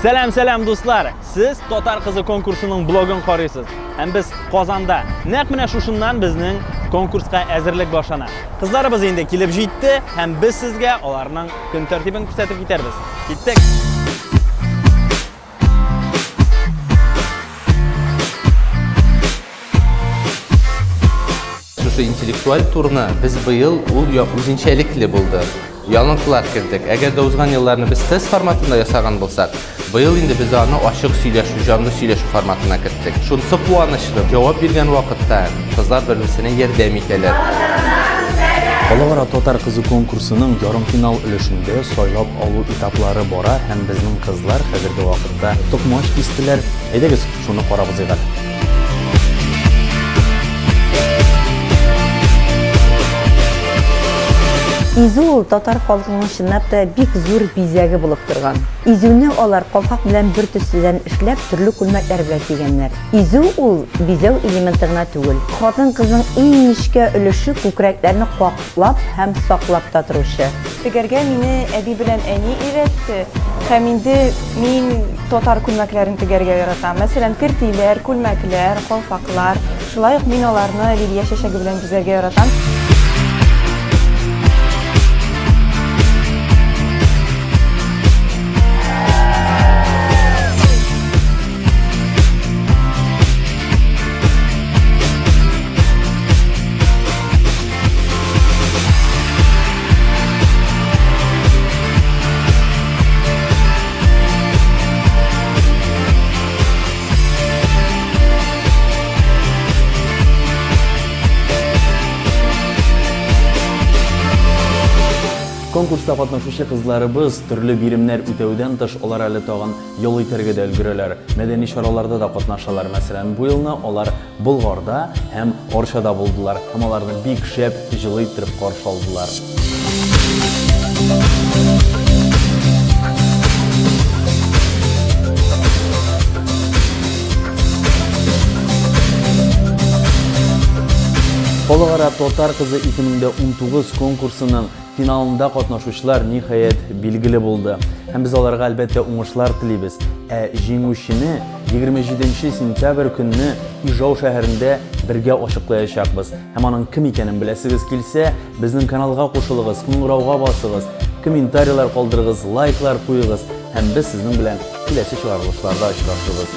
Сәлам, сәлам, дуслар! Сез Татар кызы конкурсының блогын карыйсыз. Һәм без Казанда. Нәкъ менә шушыннан безнең конкурска әзерлек башлана. Кызларыбыз инде килеп җитте һәм без сезгә аларның көн тәртибен күрсәтеп китәрбез. Киттек! Шушы интеллектуаль турны без быел ул як үзенчәлекле булды. Яңалыклар кердек. Әгәр дә узган елларны без тест форматында ясаган булсак, быел инде без аны ачык сөйләшү, җанлы сөйләшү форматына керттек. Шунысы куанычлы, җавап биргән вакытта кызлар бер-берсенә ярдәм итәләр. Халыкара татар кызы конкурсының ярымфинал өлешендә сайлап алу этаплары бара һәм безнең кызлар хәзерге вакытта токмач кистеләр. Әйдәгез, Шуны карабыз әле. Изү ул татар халкының чынлап та бик зур бизәге булып торган. Изүне алар калфак белән бер төследән эшләп, төрле күлмәкләр белән кигәннәр. Изү ул бизәү элементы гына түгел. Хатын-кызның иң нечкә өлеше күкрәкләрне как Лап һәм саклап та торучы. Тегәргә мине әби белән әни өйрәтте. Һәм инде мин татар күлмәкләрен тегәргә яратам. Мәсәлән, кертиләр, күлмәкләр, калфаклар. Шулай ук мин аларны лилия чәчәге белән бизәргә яратам. Конкурста катнашучы кызларыбыз төрле биремнәр үтәүдән тыш алар әле тагын ял итәргә дә өлгерәләр. Мәдәни чараларда да катнашалар. Мәсәлән, бу елны алар Болгарда һәм Орчада булдылар һәм аларны бик шәп җылы иттереп каршы алдылар. Халыкара татар кызы 2019 конкурсының Финалында катнашучылар, ниһаять, билгеле булды. Һәм без аларга, әлбәттә, уңышлар телибез. Ә җиңүчене 27 сентябрь көнне Ижау шәһәрендә бергә ачыклаячакбыз. Һәм аның кем икәнен беләсегез килсә, безнең каналга кушылыгыз, кыңгырауга басыгыз, комментарийлар калдырыгыз, лайклар куегыз һәм без сезнең белән киләсе чыгарылышларда очрашырбыз.